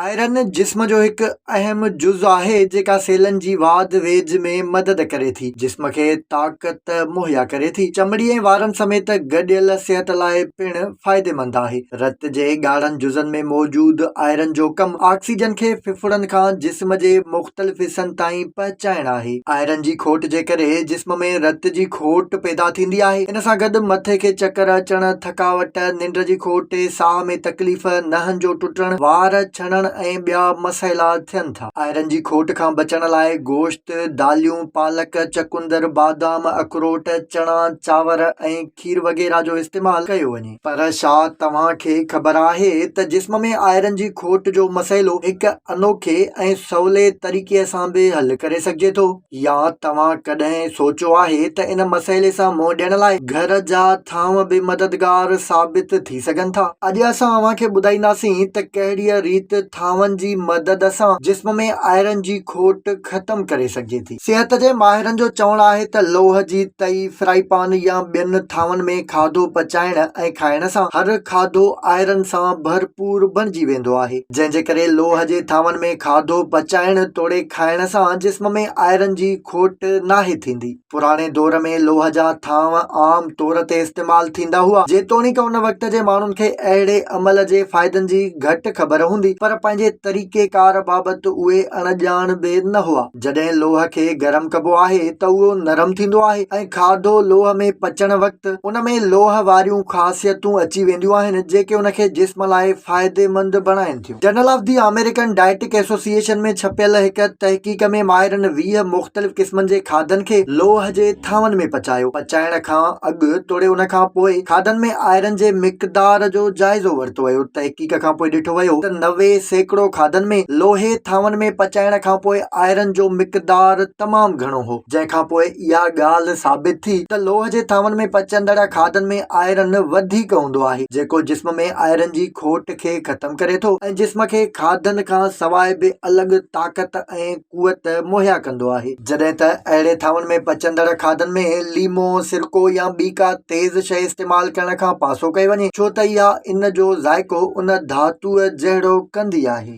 Iron جسم جو هڪ اهم جز آهي جيڪا سيلن جي واڌ ويجهه ۾ مدد ڪري ٿي جسم کي طاقت مهيا ڪري ٿي چمڙي ۽ وارن سميت گڏيل صحت لاء پڻ فائديمند آهي رت جي ڳاڙهن جزن ۾ موجود آئرن جو ڪم آڪسيجن کي ڦڦڙن کان جسم جي مختلف حصن تائين پهچائڻ آهي آئرن جي کوٽ جي ڪري جسم ۾ رت جي کوٽ پيدا ٿيندي آهي ان سان گڏ مٿي کي چڪر اچڻ ٿڪاوٽ، ننڊ جي کوٽ، ساهه ۾ تڪليف، نهن جو ٽٽڻ، وار ڇڻڻ ۽ ٻيا مسئلا ٿين ٿا. آئرن جي کوٽ کان بچڻ لاء گوشت، داليون، پالڪ، چقندر، بادام، اخروٽ، چڻا، چانور ۽ کير وغيره جو استعمال ڪيو وڃي. پر ڇا توهان کي خبر آهي ته جسم ۾ آئرن جي کوٽ جو مسئلو هڪ انوکي ۽ سولي طريقي سان به حل ڪري سگهجي ٿو؟ يا توهان ڪڏهن سوچيو آهي ته ان مسئلي سان منهن ڏيڻ لاء گهر جا ٿانو به مددگار ثابت ٿي سگهن ٿا؟ اڄ اسان اوهان کي ٻڌائينداسين ته ڪهڙيء ريت ٿانون جي مدد سان جسم ۾ آئرن جي کوٽ ختم ڪري سگهجي ٿي. صحت جي ماهرن جو چوڻ آهي ته لوهه جي تئي، فرائي پان يا ٻين ٿانون ۾ کاڌو پچائڻ ۽ کائڻ سان هر کاڌو آئرن سان ڀرپور بڻجي ويندو آهي، جنهن جي ڪري لوهه جي ٿانون ۾ کاڌو پچائڻ توڙي کائڻ سان جسم ۾ آئرن جي کوٽ ناهي ٿيندي. پراڻي دور ۾ لوهه جا ٿانو عام طور تي استعمال ٿيندا هئا، جيتوڻيڪ ان وقت جي ماڻهن کي اهڙي عمل جي فائدن جي گهٽ خبر هوندي، پر پنهنجي طريقي ڪار بابت اهي اڻ ڄاڻ به نه هئا. جڏهن لوهه کي گرم ڪبو آهي ته اهو نرم ٿيندو آهي ۽ کاڌو لوهه ۾ پچڻ وقت ان ۾ لوهه واريون خاصيتون اچي وينديون آهن، جيڪي ان کي جسم لاء فائديمند بڻائين ٿيون. Journal of the American Dietetic ايسوسي ايشن ۾ ڇپيل هڪ تحقيق ۾ ماهرن ويهه مختلف قسمن جي کاڌن کي لوهه جي ٿانون ۾ پچايو. پچائڻ کان اڳ توڙي ان کان پوء کاڌن ۾ آئرن جي مقدار جو جائزو ورتو ويو. تحقيق کان پوء ڏٺو ويو ته نوي سيڪڙو کاڌن ۾ لوهي ٿانون ۾ پچائڻ کان پوء آئرن جو مقدار تمام گهڻو هو. جنهن کان پوء اها ڳالهه ثابت ٿي ته لوهه جي ٿانون ۾ پچندڙ کاڌن ۾ آئرن وڌيڪ هوندو آهي جيڪو جسم ۾ آئرن جي کوٽ کي ختم ڪري ٿو ۽ جسم کي کاڌن کان سواء به الڳ طاقت ۽ قوت مهيا ڪندو آهي. جڏهن ته اهڙي ٿانون ۾ پچندڙ کاڌن ۾ ليمو، سرڪو يا ٻي ڪا تيز شيء استعمال ڪرڻ کان پاسو ڪيو وڃي ڇو ته اها ان جو ذائقو ان ڌاتوء جهڙو ڪندي آهي.